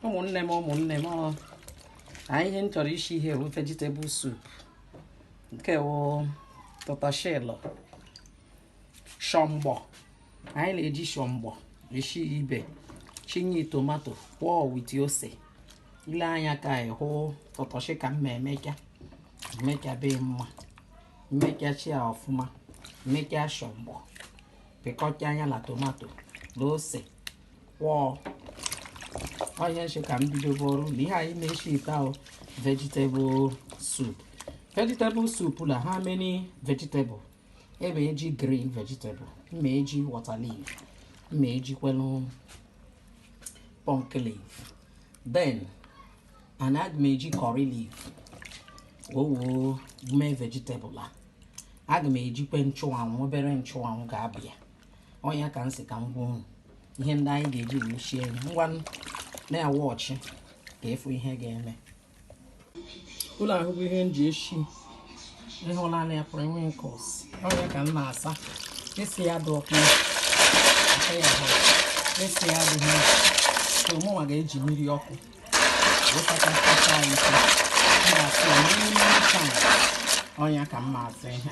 ụmụnne m ụmụnne m ọ na ihe m chọrọ isi ihe bụ vegetable soup nke wụ tatashi la shọmgbọ anyị na-eji shọmgbọ esi ibe chinye tomato kwọọ with ose ile anya ka anyị hụ tatashi ka mma emeka emeka be mma emeka chia ọfụma emeka shọmgbọ pịkọcha anya na tomato na ose kwọọ ọnya m shi ka m bidobe ọrụ na ihe anyị na-eshi ite ahụ vegetable soup vegetable soup na how many vegetable m ma-eji green vegetable m ma-eji water leaf m ma-ejikwenu pumpkin leaf then and aga m eji curry leaf o woo mee vegetable a aga m ejikwe nchụanwụ obere nchụanwụ ga-abịa ọnya ka m si ka m gwa unu ihe ndị anyị ga-eji wee sie nri ngwa na-awọchị ka ị fụ ihe ga-eme ụlọ ahụ bụ ihe m ji eshi ị hụla na ya periwinkles ọnya ka m na-asa esi ya dị ọkụ aka ya hụ esi ya dị mma so mụnwa ga-eji mmiri ọkụ wụsachasịcha ya ike m ga-asị ya n'ime taa ọnya ka m na-asa ihe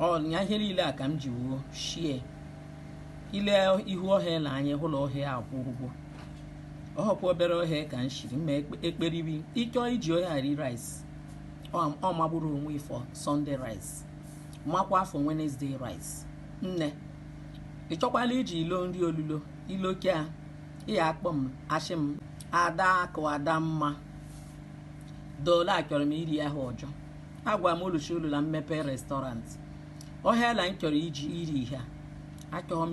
ọnya ihe niile a ka m ji woo shie ile ihu ohe a na anya hụlọ ohe akwụkwọ ọhọkwa obere ohe ka m shiri ma ekperibi ị chọọ iji ohe a rie rice ọ magburu onwe ya for Sunday rice makwa for Wednesday rice nne ị chọkwala iji ilo nri olulo ilokia ị ya-akpọ m ashị m ada akụ ada mma dole achọrọ m iri ahụ ọjọọ agwa m Oluchi olu na mmepe restaurant ohe a la m chọrọ iji iri ihe achọọ m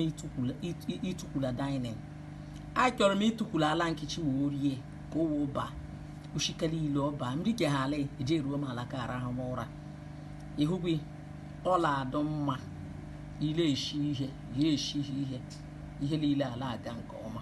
ịtụkwu la dining achọrọ m ịtụkwu la ala kitchen wee rie ka o wee ba ushikele ile ọba m rike ha ala eje eruo m ala ka arahụ m ụra ịhụgwi ọ la-adụ mma ile eshi ihe ya eshi ihe ihe niile ala aga nke ọma